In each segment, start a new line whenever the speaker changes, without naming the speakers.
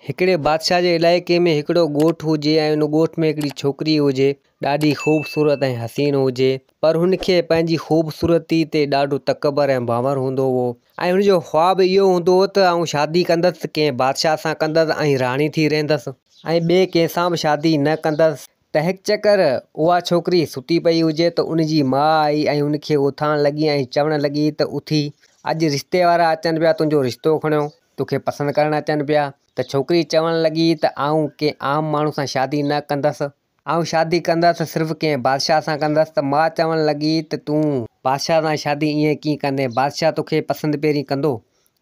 هڪڙي بادشاهه جي علائقي ۾ هڪڙو ڳوٺ هجي ۽ ان ڳوٺ ۾ هڪڙي ڇوڪري هجي. ڏاڍي خوبصورت ۽ حسين هجي. پر هن کي پنهنجي خوبصورتي تي ڏاڍو تڪبر ۽ ڀانور هوندو هو ۽ هن جو خواب اهو هوندو هو ته آئون شادي ڪندس ته ڪنهن بادشاهه سان ڪندس ۽ راڻي ٿي رهندس ۽ ٻئي ڪنهن سان به شادي نه ڪندس. تنهنڪري اها ڇوڪري ستي پئي هجي ته ان جي ماء آئي ۽ ان کي اٿارڻ لڳي ۽ چوڻ لڳي ته اٿي، اڄ رشتي وارا اچن پيا تنهنجو رشتو کڻيو، تو کي پسند ڪرڻ اچن پيا. ته ڇوڪري چوڻ لڳي ته آئون ڪنهن عام ماڻهو سان شادي نه ڪندس. آئون شادي ڪندس ته صرف ڪنهن بادشاهه سان ڪندس. ته ماء چوڻ لڳي ته تون بادشاهه سان شادي ائين ڪيئن ڪندين؟ بادشاهه تو کي پسند پهرين ڪندو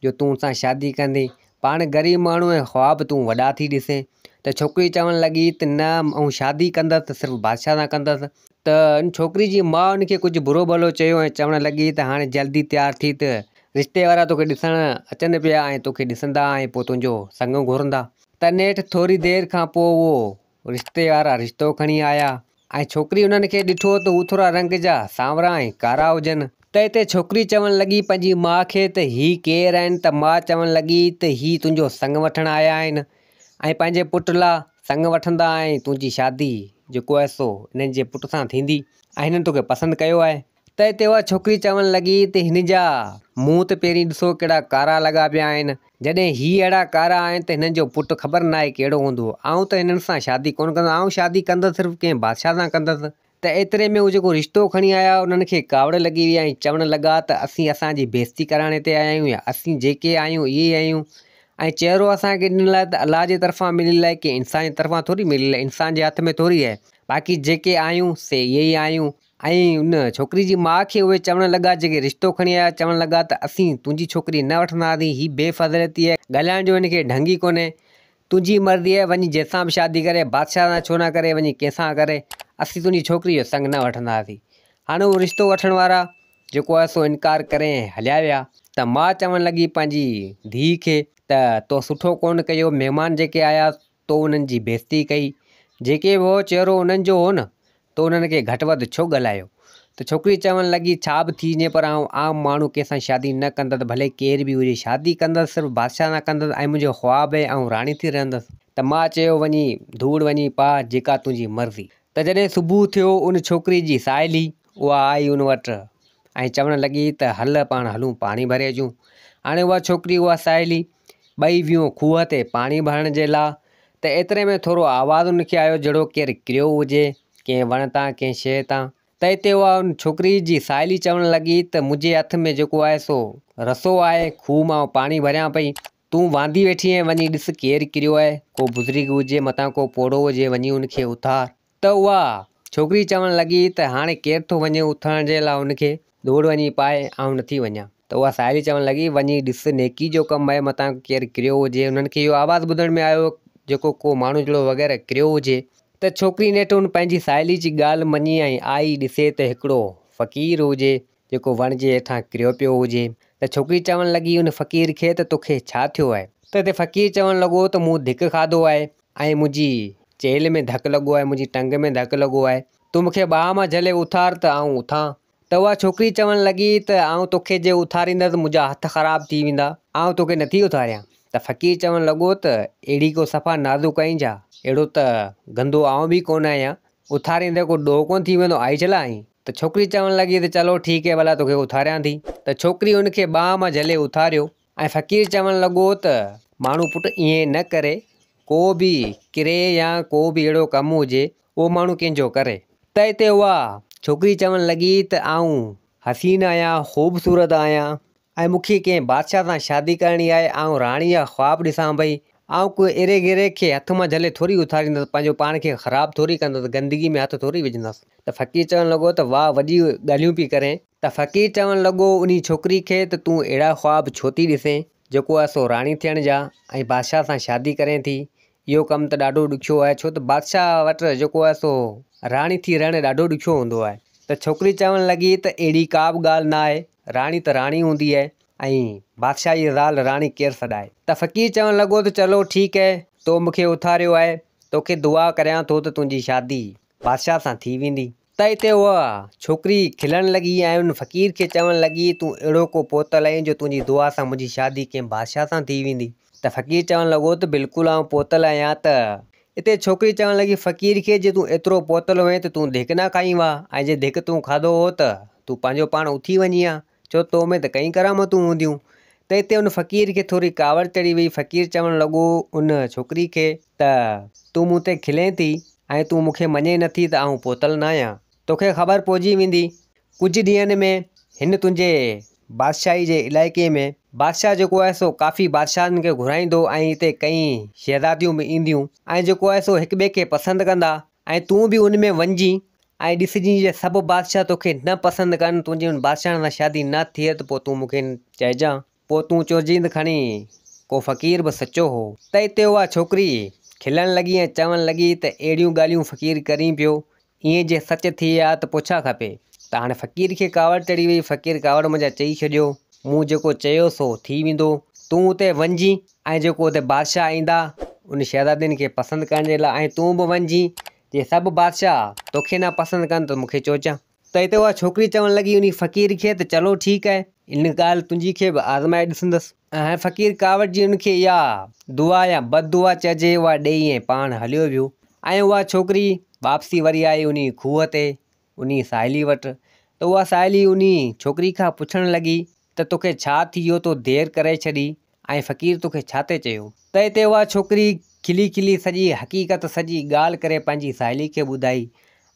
جو تون سان شادي ڪندين، پاڻ غريب ماڻهو ۽ خواب تون وڏا ٿي ڏسين. ته ڇوڪري چوڻ لڳي ته نه آئون شادي ڪندس ته صرف بادشاهه سان ڪندس. ته ان ڇوڪري جي ماء ان کي ڪجهه برو ڀلو چيو ۽ چوڻ لڳي ته هاڻي جلدي تيار ٿي ته رشتي وارا توکي ڏسڻ اچن پيا ۽ توکي ڏسندا ۽ پوء تنهنجو سڱ گهرندا. تنهن نيٺ ٿوري دير کان پوء اهو رشتي وارا رشتو کڻي آيا ۽ ڇوڪري انهن کي ڏٺو ته هو ٿورا رنگ جا سانورا ۽ ڪارا هجن. ته اتي ڇوڪري چوڻ لڳي پنهنجي ماء کي ته هي ڪير آهن ته ماء چوڻ لڳي ته هي تنهنجو سڱ وٺڻ آيا آهن ۽ پنهنجي پٽ لا سڱ وٺندا ۽ تنهنجي شادي جيڪو آهي سو هنن جي پٽ سان ٿيندي ۽ هنن توکي پسند ڪيو آهي. ته اتي اها ڇوڪري چوڻ لڳي ته هن جا منهن ته پهرين ڏسو ڪهڙا ڪارا لڳا پيا آهن. جڏهن هي اهڙا ڪارا آهن ته هنن جو پٽ خبر ناهي ڪهڙو هوندو. آئون ته هنن سان شادي ڪونه ڪندس. آئون شادي ڪندس صرف ڪنهن بادشاهه سان ڪندس. ته ايتري ۾ هو جيڪو رشتو کڻي آيا هئا انهن کي ڪاوڙ لڳي وئي ۽ چوڻ لڳا ته اسين اسان جي بيعزتي ڪرائڻ هتي آيا آهيون يا اسين جيڪي آهيون اهي ئي آهيون ۽ چهرو اسان کي ڏنل آهي ته الله جي طرفان مليل آهي ڪنهن انسان جي طرفان ٿوري مليل آهي انسان جي هٿ ۾ ٿوري آهي باقي جيڪي آهيون سي اهي ئي آهيون. ۽ ان ڇوڪري جي ماء کي اهي چوڻ لڳا جيڪي رشتو کڻي آيا چوڻ لڳا ته اسين تنهنجي ڇوڪري نه وٺنداسين هي بي فضليتي آهي ڳالهائڻ جو هن کي ڍنگ ئي ڪونهي تنهنجي مرضي آهي وڃي جنهن سان به شادي ڪري بادشاهه سان ڇو نه ڪري وڃي ڪنهن سان ڪري اسين تنهنجي ڇوڪري جو سڱ نه وٺنداسين هاڻي اهو رشتو وٺڻ وارا جيڪو آهي سو انڪار ڪري ۽ هليا ويا ته ماء چوڻ لڳي پنهنجي ڌيء کي ته تو سٺو ڪونه ڪيو مهمان جيڪي آيا تو انهن جي بيعزتي ڪئي، جيڪي به هو چهرو انهن جو هو نه، تو انهن کي گهٽ وڌ ڇو ڳالهايو؟ ته ڇوڪري چوڻ لڳي، ڇا به ٿي وڃي پر آئون عام ماڻهو ڪنهن سان شادي نه ڪندس، ڀلي ڪير به هجي، شادي ڪندس صرف بادشاهه سان ڪندس ۽ منهنجو خواب هي آئون راڻي ٿي رهندس. ته ماء چيو، وڃي ڌوڙ وڃي پاء جيڪا تنهنجي مرضي. ته جڏهن صبح ٿيو ان ڇوڪري جي ساهيلي. اها آئي ان وٽ ۽ چوڻ لڳي ته هل پاڻ هلون پاڻي ڀري اچون. هاڻي اها ڇوڪري اها ساهيلي ٻئي ويون کوهه تي پاڻي ڀرڻ جي لاء ته ايتري ۾ ٿورو آواز ان کي آيو جهڙو ڪير ڪريو هجي ڪنهن وڻ تان ڪنهن شيء تان ته اتي اها ان ڇوڪري جي ساهيلي چوڻ لڳي ته منهنجي هٿ ۾ جيڪو آهي سو رسو آهي کوهه مان پاڻي ڀريان پئي تون واندي ويٺي آهين وڃي ڏس ڪير ڪريو آهي ڪو بزرگ هجي متان ڪو پوڙهو هجي وڃي ان کي اٿار ته اها ڇوڪري چوڻ لڳي ته هاڻي ڪير ٿو وڃي اٿارڻ جي لاء ان کي؟ ڏوڙ وڃي پاء، آئون نه ٿي وڃان. ته اها ساهيڙي چوڻ لڳي، وڃي ڏس، نيڪي جو ڪم آهي، متان ڪير ڪريو هجي. انهن کي اهو آواز ٻڌڻ ۾ آيو، جيڪو ڪو ماڻهو جهڙو وغيره ڪريو هجي. ته ڇوڪري نيٺ ان پنهنجي ساهيڙي جي ڳالهه مڃي ۽ آئي ڏسي ته هڪڙو فقير هجي، جيڪو وڻ جي هيٺان ڪريو پيو هجي. ته ڇوڪري چوڻ لڳي ان فقير کي ته توکي ڇا ٿيو آهي؟ ته تي فقير چوڻ لڳو ته مون ڌڪ کاڌو آهي ۽ منهنجي چيلهه ۾ ڌڪ لڳو آهي، منهنجي ٽنگ ۾ ڌڪ لڳو آهي، تون مون کي ٻانهن مان جهلي اٿار ته آئون اٿان. ته اها ڇوڪري چوڻ لڳي ته آئون توکي جي اٿاريندس ته منهنجا هٿ خراب ٿي ويندا، آئون توکي نٿي اٿاريان. ته فقير چوڻ لڳو ته اهڙي ڪو صفا نازڪ آهين ڇا؟ اهڙو ته گندو آئون به ڪونه آهيان اٿاريندي ڪو ڏوهه ڪونه ٿي ويندو، آئي جهلا آهين؟ ته ڇوڪري چوڻ لڳي ته چلو ٺيڪ هي ڀلا توکي اٿاريان ٿي. ته ڇوڪري هن کي ٻانهن مان جهلي اٿاريو ۽ فقير چوڻ لڳو ته ماڻهو پٽ ائين نه ڪري، ڪو به ڪري يا ڪو به اهڙو ڪم هجي اهو ماڻهو ڪنهن جو ڪري. ته اتي اها ڇوڪري چوڻ لڳي ته آئون حسين آهيان، خوبصورت آهيان، ۽ مون کي ڪنهن بادشاهه سان شادي ڪرڻي آهي، آئون راڻي جا خواب ڏسان پئي، آئون ڪو ايري گيري کي هٿ مان جهلي ٿوري اٿاريندس، پنهنجو پاڻ کي خراب ٿوري ڪندس، گندگي ۾ هٿ ٿوري وجهندس. ته فقير چوڻ لڳو ته واهه وڏي ڳالهيون پئي ڪرين. ته فقير چوڻ لڳو انهي ڇوڪري کي ته تون اهڙا خواب ڇو ٿي ڏسين، جيڪو آهي سو راڻي ٿيڻ جا ۽ بادشاهه سان شادي ڪرين ٿي، اهو ڪم ته ڏاڍو ڏکيو آهي ڇو ته بادشاهه وٽ جيڪو آهي سو راڻي ٿي رهڻ ڏاڍو ڏکيو هوندو آهي ته ڇوڪري چوڻ لڳي ته اهڙي ڪا به ڳالهه نه آهي راڻي ته راڻي هوندي آهي ۽ بادشاهه جي زال راڻي ڪير سڏائي ته فقير چوڻ لڳو ته چلو ٺيڪ آهي تو مون کي اٿاريو آهي توکي دعا ڪريان ٿو ته تنهنجي شادي بادشاهه سان ٿي ويندي. ته اتي اها ڇوڪري کلڻ لڳي ۽ ان فقير کي چوڻ لڳي، تون اهڙو ڪو پوتل آهين جو تنهنجي دعا سان منهنجي شادي ڪنهن بادشاهه سان ٿي ويندي. ته فقير چوڻ لڳو ته بلڪل آئون پوتل آهيان ته. اتي ڇوڪري چوڻ لڳي فقير کي، جي تون ايترو پوتل هئين ته تون ڌڪ نه کائين ها ۽ جي ڌڪ تون کاڌو هو ته تون پنهنجو پاڻ اٿي وڃين ها. ڇو تو ۾ ته ڪئين ڪرامتون هونديون. ته اتي ان فقير کي ٿوري ڪاوڙ چڙهي وئي، فقير چوڻ لڳو ان ڇوڪري کي ته تون مون تي کلين ٿي ۽ تون مون کي مڃين نه ٿي ته آئون پوتل ناهيان، توکي خبر پئجي ويندي ڪجهه ڏينهن ۾ هن تنهنجي بادشاهي جي علائقي ۾ بادشاهه جيڪو آهي سو ڪافي بادشاهن کي گهرائيندو ۽ اتي ڪئين شهزاديون به اينديون ۽ جيڪو آهي سو هڪ ٻئي کي پسند ڪندا ۽ تون به ان ۾ وڃجين ۽ ڏسجين جي سڀ بادشاهه تو کي نه پسند ڪن، تنهنجي ان بادشاهڻ سان شادي نه ٿئي ته پوء تون مون کي چئجان. پوء تون چئجين ته کڻي ڪو فقير به سچو هو. تئي تي اها ڇوڪري کلڻ لڳي ۽ چوڻ لڳي ته اهڙيون ڳالهيون فقير ڪرين پيو، ايئن جي سچ ٿئي ها ته پوء ڇا کپي؟ ته هاڻي فقير کي ڪاوڙ چڙهي وئي، فقير ڪاوڙ منجهان چئي ڇڏيو، مون جيڪو چيو سو ٿي ويندو، تون اتي وڃجين ۽ جيڪو اتي بادشاهه ايندا ان شهزادين کي پسند ڪرڻ جي لاء ۽ تون به وڃجين جي سڀ بادشاهه توکي نه پسند ڪن ته مون کي چوچان. ته اتي اها ڇوڪري چوڻ لڳي انهي فقير کي ته چلو ٺيڪ آهي. ان ڳالهه تنهنجي کي به آزمائي ڏسندس. ۽ فقير ڪاوڙ جي ان کي اها دعا يا بد دعا چئجي اها ڏيئي ۽ پاڻ هليو ويو. ۽ اها ڇوڪري واپسي وري آئي انهي کوهه تي انهيء ساهيليء وٽ، ته اها ساهيلي انهيء ڇوڪريء کان پڇڻ لڳي ته توکي ڇا ٿي ويو تو دير ڪري ڇڏي ۽ فقير توکي ڇا تي چيو؟ تنهن تي اها ڇوڪري کلي کلي سڄي حقيقت سڄي ڳالهه ڪري پنهنجي ساهيليء کي ٻڌائي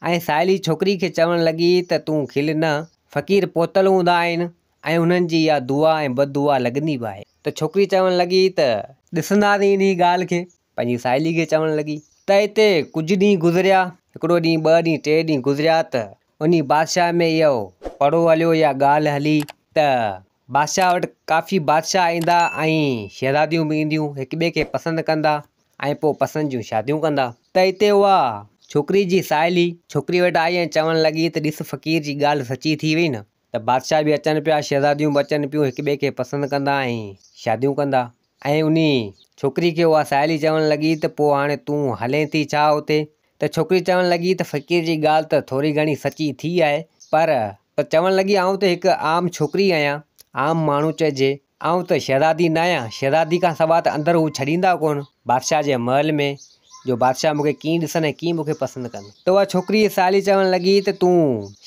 ۽ ساهيلي ڇوڪريء کي چوڻ لڳي ته تون کل نه، فقير پهتل هوندا آهن ۽ انهن جي اها دعا ۽ بددعا لڳندي به آهي. ته ڇوڪري چوڻ لڳي ته. ڏسنداسين انهيء ڳالهه کي، پنهنجي ساهيلي کي چوڻ لڳي ته اتي ڪجهه ڏينهن گذريا. هڪڙو ڏينهن، ٻه ڏينهن، ٽي ڏينهن گذريا ته انهي بادشاهه ۾ اهو پڙهو هليو يا ڳالهه هلي ته بادشاهه وٽ ڪافي بادشاهه ايندا ۽ شهزاديون به اينديون، هڪ ٻئي کي پسند ڪندا ۽ پوء پسند جون شاديون ڪندا. ته اتي اها ڇوڪري جي ساهيلي ڇوڪري وٽ آئي ۽ چوڻ لڳي ته ڏس فقير جي ڳالهه سچي ٿي وئي نه. ته بادشاهه به اچن پيا، شهزاديون به اچن پيون، هڪ ٻئي کي پسند ڪندا ۽ شاديون ڪندا. ۽ انهي ڇوڪري کي اها ساهيلي چوڻ لڳي ته پوء هاڻي تون هلين ٿي ڇا اتي؟ ته ڇوڪري چوڻ لڳي ته فقير جي ڳالهه ته ٿوري گهڻي سچي ٿي آهي پر ته چوڻ لڳي آئون ته هڪ عام ڇوڪري آهيان، عام ماڻهو چئجي، آئون ته شهزادي ناهيان، شهزادي کان سواء ته اندر هو ڇڏيندا ڪونه، بادشاهه جي محل ۾، جو بادشاهه مون کي ڪيئن ڏسن ۽ ڪيئن مون کي پسند ڪن. ته اها ڇوڪريء جي ساهيڙي چوڻ لڳي ته تون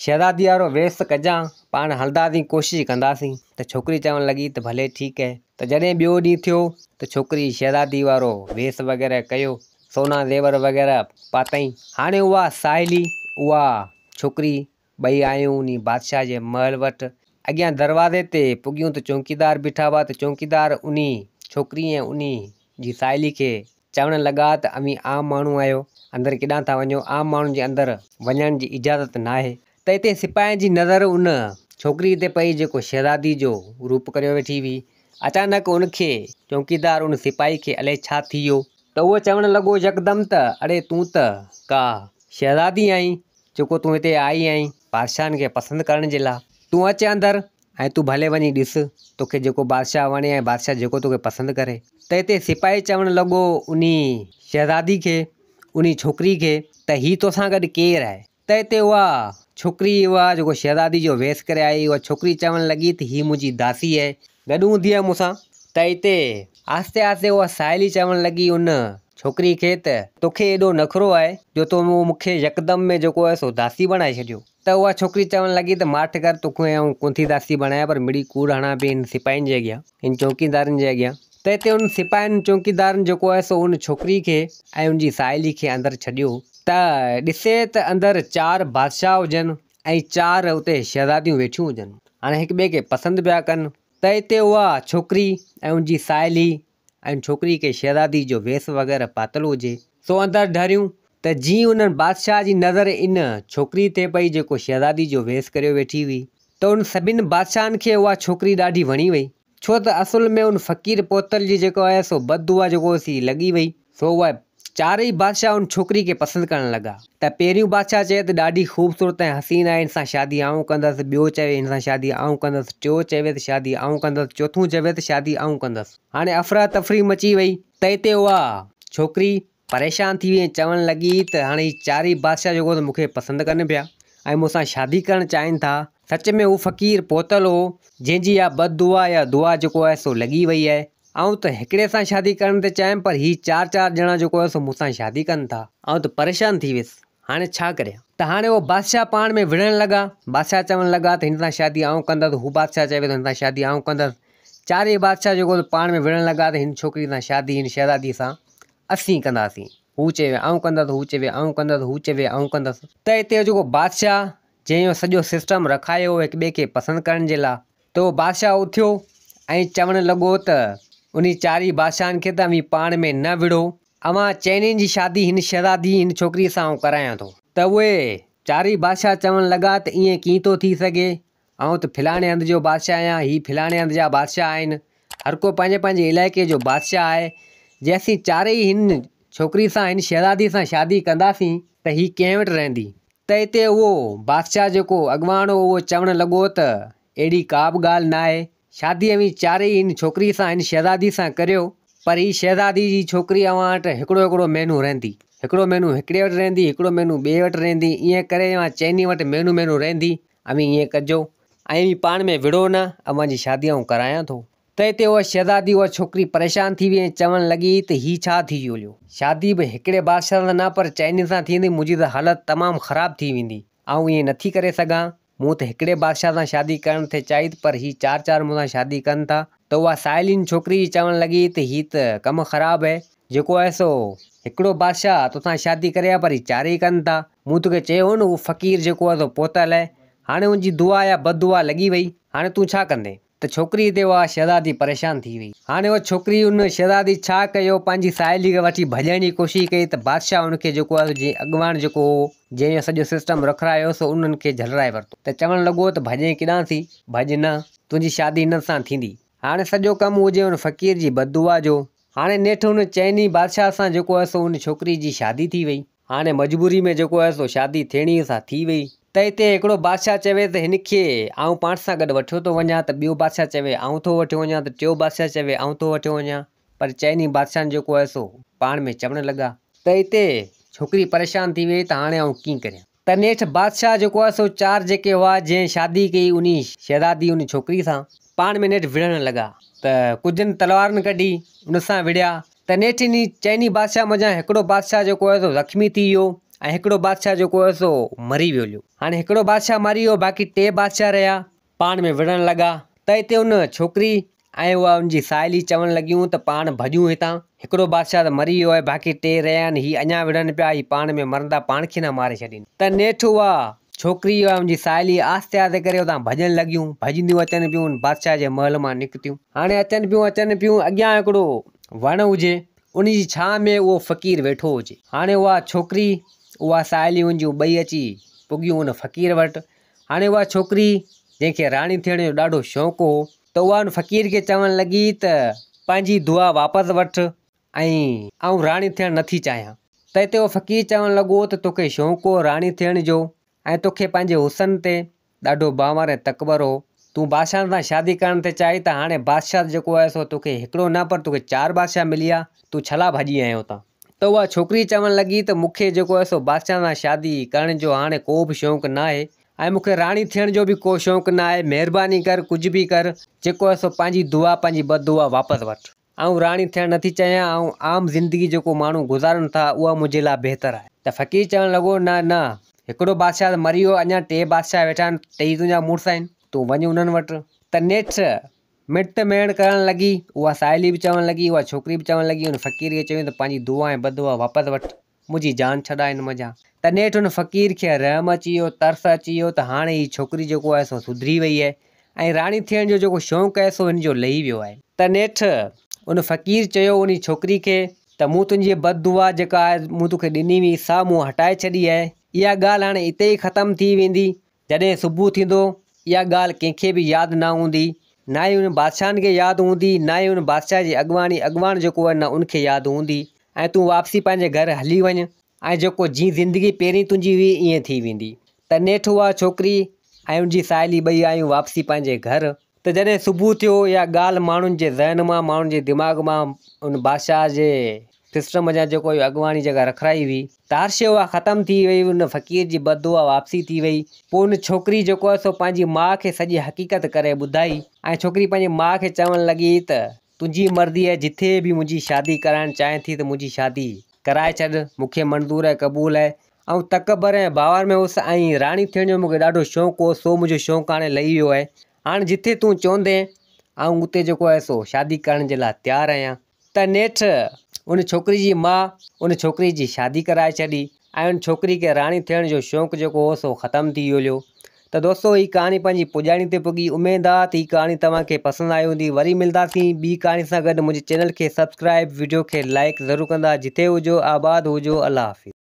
شهزاديء وارو ويس ته ڪجان، پاڻ هلنداسين، ڪوشش ڪنداسين. ته ڇوڪري چوڻ لڳي ته ڀلي ٺيڪ اهي. ته جڏهن ٻيو ڏينهن ٿيو ته ڇوڪريء شهزاديء وارو ويس وغيره ڪيو، سونا زيور وغيره پاتائين. هاڻي اها ساهيڙي، اها ڇوڪري ٻئي آيون انهي بادشاهه جي محل وٽ. اڳيان دروازي تي پڳيون ته چونڪيدار بيٺا هئا ته چونڪيدار انهي ڇوڪري ۽ انهي جي ساهيلي کي چوڻ لڳا ته اوهين عام ماڻهو آهيو، اندر ڪيڏانهن ٿا وڃو، عام ماڻهن جي اندر وڃڻ جي اجازت ناهي. ته اتي سپاهين جي نظر ان ڇوڪري تي پئي جيڪو شهزادي جو روپ ڪريو ويٺي هئي. اچانڪ ان کي چونڪيدار ان سپاهي کي الئي ڇا ٿي ويو. ته اهو چوڻ لڳو يڪدم ته اڙي تون ته ڪا شهزادي آهين، جيڪو تون هتي آئي آهين بادشاهن کي پسند ڪرڻ جي لاء. تون اچ اندر ۽ تون ڀلي وڃي ڏس توکي جيڪو بادشاهه وڻي ۽ بادشاهه جيڪو توکي پسند ڪري. ته هتي سپاهي چوڻ لڳو انهي شهزادي کي، انهي ڇوڪري کي، ته هي توسان گڏ ڪير آهي؟ ته هتي اها ڇوڪري اها جيڪو شهزادي جو ويس ڪري آئي اها ڇوڪري چوڻ لڳي ته هي منهنجي داسي آهي گڏ هوندي هئي مون سان ته هتي. آهستي آهستي اها ساهيلي چوڻ لڳي ان ڇوڪري کي ته. توکي ايڏو نخرو آهي جو تو مون کي يڪدم ۾ جيڪو آهي سو داسي بڻائي ڇڏيو. ته اها ڇوڪري چوڻ لڳي ته ماٺ ڪر تو کي آئون ڪونه ٿي داسي بڻايان پر مڙئي ڪوڙ هڻان پئي هن سپاهين جي اڳيان هن چوڪيدارن جي اڳيان ته هتي ان سپاهين چوڪيدارن جيڪو آهي سو ان ڇوڪري کي ۽ ان جي ساهيلي کي اندر ڇڏيو ته ڏسي ته اندر چار بادشاهه هجن. ۽ چار اتي شهزاديون ويٺيون هجن هاڻي هڪ ٻئي کي پسند پيا ڪن ته اتي اها ڇوڪري ۽ ان جي ساهيلي ۽ ڇوڪري کي شهزادي جو ويس وغيره پاتل هجي سو اندر ڍريون ته جيئن انهن بادشاهه جي نظر ان ڇوڪري تي پئي جيڪو شهزادي جو ويس ڪريو ويٺي هئي ته انهن سڀني بادشاهن کي اها ڇوڪري ڏاڍي وڻي وئي. ڇو ته اصل ۾ ان فقير پوتل جي جيڪو آهي سو بد دعا جيڪو هوس سي لڳي وئي. سو اهي چارئي بادشاهه ان ڇوڪري کي پسند ڪرڻ لڳا. ته پهريون بادشاهه چيو ته ڏاڍي خوبصورت ۽ حسين آهي هن سان شادي آئون ڪندس، ٻيو چوي هن سان شادي آئون ڪندس، ٽيو چوي ته شادي آئون ڪندس، چوٿون چوي ته شادي آئون ڪندس. هاڻي افراتفري مچي وئي ته اتي اها ڇوڪري پريشان ٿي وئي ۽ چوڻ لڳي ته هاڻ هي چارئي بادشاهه جيڪو ته مون کي پسند ڪن پيا ۽ مون سان شادي ڪرڻ چاهين ٿا. سچ ۾ هو فقير پهتل هو، جنهن جي اها بد دعا يا دعا جيڪو آهي سو لڳي وئي آهي. آئون ته هڪڙي سان شادي ڪرڻ ٿي چاهيم پر هي چار چار ڄڻا جيڪو آهي سو مون سان شادي ڪن ٿا. آئون ته پريشان ٿي ويس. هاڻي ڇا ڪريان؟ ته هاڻي اهو بادشاهه پاڻ ۾ وڙهڻ لڳا. بادشاهه چوڻ لڳا ته هن سان شادي آئون ڪندس، هو بادشاهه چوي ٿو هن سان شادي آئون ڪندس. چارئي بادشاهه جيڪو سو پاڻ ۾ وڙهڻ لڳا ته هن ڇوڪريء سان شادي هن شهزاديء سان اسين ڪنداسين. هو چوي آئون ڪندس، هو چوي آئون ڪندس، هو چوي آئون ڪندس. ته هتي اهو جيڪو بادشاهه جنهن اهو سڄو سسٽم رکايو هو هڪ ٻئي کي پسند ڪرڻ جي لاء ته اهو بادشاهه اٿيو ۽ چوڻ لڳو ته انهي چارئي بادشاهن کي ته اوهين پاڻ ۾ نه وڙهو، اوهان چئنين جي شادي هن شهزادي، هن ڇوڪريء سان آئون ڪرايان ٿو. ته اهي چارئي بادشاهه چوڻ لڳا ته ائين ڪيئن ٿو ٿي سگهي؟ آئون ته ڦلاڻي هنڌ جو بادشاهه آهيان، هي ڦلاڻي هنڌ جا بادشاهه آهن. هر ڪو پنهنجي پنهنجي علائقي جو بادشاهه آهي. جي اسين چارئي هن ڇوڪريء سان، هن شهزاديء سان شادي ڪنداسين ته هي ڪنهن وٽ رهندي؟ ته اتي اهو بادشاهه جيڪو اڳواڻ هو، اهو چوڻ لڳو ته اهڙي ڪا به ڳالهه ناهي. شادي اوهين چارئي هن ڇوڪريء سان، هن شهزاديء سان ڪريو، پر هيء شهزادي جي ڇوڪري اوهان وٽ هڪڙو هڪڙو مهينو رهندي. هڪڙو مهينو هڪڙي وٽ رهندي، هڪڙو مهينو ٻئي وٽ رهندي، ائين ڪري اوهان چئني وٽ مهينو مهينو رهندي. اوهين ائين ڪجو، ۽ اوهين پاڻ ۾ وڙهو نه، اوهان جي شادي آئون ڪرايان ٿو. تنهن تي اها شهزادي، اها ڇوڪري پريشان ٿي ويئي ۽ چوڻ لڳي ته هي ڇا ٿي ويو؟ شادي به هڪڙي بادشاهه سان نه، پر چئني سان ٿيندي، منهنجي ته حالت تمام خراب ٿي ويندي. آئون ائين نٿي ڪري سگهان. مون ته هڪڙي بادشاهه سان شادي ڪرڻ ٿي چاهي ته پر هي چار چار مون سان شادي ڪن ٿا ته اها سائلين ڇوڪري جي چوڻ لڳي ته هي ته ڪم خراب هي جيڪو هي سو هڪڙو بادشاهه توسان شادي ڪري ها پر هي چارئي ڪن ٿا مون توکي چيو هو نه هو فقير جيڪو هي سو پوتل هي هاڻي ان جي دعا يا بددعا لڳي وئي هاڻي تون ڇا ڪندين. ته ڇوڪريء تي اها شهزادي پريشان ٿي ويئي. هاڻي اها ڇوڪري ان شهزادي ڇا ڪيو پنهنجي ساهيليء کي وٺي ڀڄڻ جي ڪوشش ڪئي ته بادشاهه ان کي جيڪو آهي جنهن اڳواڻ جيڪو هو جنهن اهو سڄو سسٽم رکرايو سو انهن کي جهلرائي ورتو ته چوڻ لڳو ته ڀڄين ڪيڏانهن ٿي؟ ڀڄ نه، تنهنجي شادي هنن سان ٿيندي. هاڻي سڄو ڪم هو جنهن ان فقير جي بددعا جو. هاڻي نيٺ ان چئني بادشاهه سان جيڪو آهي سو ان ڇوڪريء جي شادي ٿي ويئي. هاڻي مجبوري ۾ جيڪو آهي سو شادي ٿيڻي ئي سان ٿي ويئي. ته اتي هڪڙو بادشاهه چوي ته هن کي آئون پاڻ سان گڏ وٺيو ٿو وڃان ته ٻيو بادشاهه چوي آئون ٿو وٺيو وڃان ته ٽيون بادشاهه چوي آئون ٿو وٺيو وڃان پر چئني بادشاهن جيڪو آهي سو پاڻ ۾ چوڻ لڳا. ته اتي ڇوڪري پريشان ٿي ويئي ته هاڻي آئون ڪيئن ڪريان. ته نيٺ بادشاهه جيڪو آهي سو چار جيڪي هئا جنهن شادي ڪئي انهي شهزادي انهي ڇوڪري سان پاڻ ۾ نيٺ وڙهڻ لڳا ته ڪجهن تلوارن ڪڍي ان سان وڙهيا تنهن ٽنهي چئني بادشاهه منجهان هڪڙو بادشاهه جيڪو هيو سو زخمي ٿي ويو ۽ هڪڙو بادشاهه جيڪو هيو سو مري ويو هليو. هاڻي هڪڙو بادشاهه مري ويو باقي ٽي بادشاهه رهيا. پاڻ ۾ وڙهڻ لڳا ته هتي ان ڇوڪري ۽ اها ان جي ساهيلي چوڻ لڳيون ته پاڻ ڀڄون هتان هڪڙو بادشاهه ته مري ويو آهي باقي ٽي رهيا آهن هي اڃا وڙهن پيا هي پاڻ ۾ مرندا پاڻ کي نه ماري ڇڏين ته نيٺ اها ڇوڪري ۽ ان جي ساهيلي آهستي آهستي ڪري اتان ڀڄڻ لڳيون. ڀڄنديون اچن پيون. بادشاهه جي محل مان نڪتيون. هاڻي اچن پيون اچن پيون اڳيان هڪڙو وڻ هجي. ان جي ڇانء ۾ اهو فقير ويٺو هجي. هاڻي اها ڇوڪري اها ساهيلي ان جون ٻئي اچي پڳيون ان فقير وٽ. هاڻي اها ڇوڪري جنهن کي راڻي ٿيڻ جو ڏاڍو شوق هو ته اها ان فقير کي چوڻ لڳي ته پنهنجي دعا واپس وٺ ۽ آئون راڻي ٿيڻ نٿي چاهيان. تنهن تي اهو فقير چوڻ لڳو ته توکي شوق هو راڻي ٿيڻ جو ۽ توکي پنهنجي حسن تي ڏاڍو ڀانور ۽ تڪبر هو. تون بادشاهن سان شادي ڪرڻ ٿي چاهين ته هاڻي بادشاهت جيڪو آهي سو توکي هڪڙو نه پر توکي چار بادشاهه مليا، تون ڇلا ڀڄي آيو هتان؟ ته اها ڇوڪري چوڻ لڳي ته مونکي جيڪو آهي سو بادشاهن سان شادي ڪرڻ جو هاڻي ڪو به شوق ناهي ۽ مونکي راڻي ٿيڻ جو به ڪو شوق ناهي، مهرباني ڪر ڪجهه به ڪر جيڪو آهي سو پنهنجي دعا پنهنجي بددعا واپس وٺ. آئون راڻي ٿيڻ نه ٿي چاهيان، آئون عام زندگي جيڪو ماڻهو گذارن ٿا، اها منهنجي لاء بهتر آهي. ته فقير چوڻ لڳو، نه نه، هڪڙو بادشاهه ته مري ويو، اڃا ٽي بادشاهه ويٺا آهن، ٽيئي تنهنجا مڙس آهن، تون وڃ انهن وٽ. ته نيٺ مڙٽ ميڻ ڪرڻ لڳي، اها ساهيلي به چوڻ لڳي، اها ڇوڪري به چوڻ لڳي، ان فقير کي چيائون ته پنهنجي دعا ۽ بدعا واپس وٺ. منهنجي جان ڇڏاء هن منجهان. ته نيٺ ان فقير کي رحم اچي ويو، ترس اچي ويو ته هاڻي هي ڇوڪري جيڪو آهي سو سڌري وئي آهي ۽ راڻي ٿيڻ جو جيڪو شونق آهي سو هن جو لهي ويو آهي. ته نيٺ ان فقير چيو انهي ڇوڪري کي ته مون تنهنجي بد دعا جيڪا آهي مون توکي ڏني هئي سا مون هٽائي ڇڏي آهي. اها ڳالهه هاڻي اتي ئي ختم ٿي ويندي جڏهن صبح ٿيندو، اها ڳالهه ڪنهن کي به ياد نه هوندي، نه ئي انهن بادشاهن کي ياد هوندي، نه ئي ان بادشاهه جي اڳواڻي، اڳواڻ جيڪو هو نه ان کي ياد هوندي ۽ تون واپسي پنهنجي گهر هلي وڃ ۽ جيڪو جيئن زندگي پهرين تنهنجي هئي ائين ٿي ويندي. ته نيٺ اها ڇوڪري ۽ ان جي ساهيلي ٻئي آيون واپسي پنهنجي گهر. ته جڏهن صبح ٿيو، اها ڳالهه ماڻهن جي ذهن مان، ماڻهن جي دماغ مان، ان بادشاهه جي سسٽم جا جيڪو اهو اڳواڻي جيڪا رکرائي هئي، تارشي اها ختم ٿي وئي، ان فقير جي بددعا واپسي ٿي وئي. پوء ان ڇوڪري جيڪو هو سو پنهنجي ماء کي سڄي حقيقت ڪري ٻڌائي ۽ ڇوڪري پنهنجي ماء کي چوڻ لڳي ته تنهنجي مرضي آهي جتي به منهنجي شادي ڪرائڻ چاهين ٿي ته منهنجي شادي ڪرائي ڇڏ، مون کي منظور ۽ قبول آهي، آئون تڪبر ۽ باور ۾ هوس ۽ راڻي ٿيڻ جو مون کي ڏاڍو شوق هو سو منهنجو شوق هاڻي لهي ويو آهي هاڻي جتي تون چوندين آئون اتي جيڪو آهي سو شادي ڪرڻ جي لاء تيار آهيان ته نيٺ ان ڇوڪري جي ماء ان ڇوڪري جي شادي ڪرائي ڇڏي ۽ ان ڇوڪري کي راڻي ٿيڻ جو شوق جيڪو هو سو ختم ٿي ويو ليو ته دوستو هي ڪهاڻي پنهنجي پڄاڻي تي پڳي اميد آ ته هي ڪهاڻي توهان کي پسند آئي هوندي وري ملداسين ٻي ڪهاڻي سان گڏ منهنجي چينل کي سبسڪرائب وڊيو کي لائڪ ضرور ڪندا جتي هجو آباد هجو الله حافظ.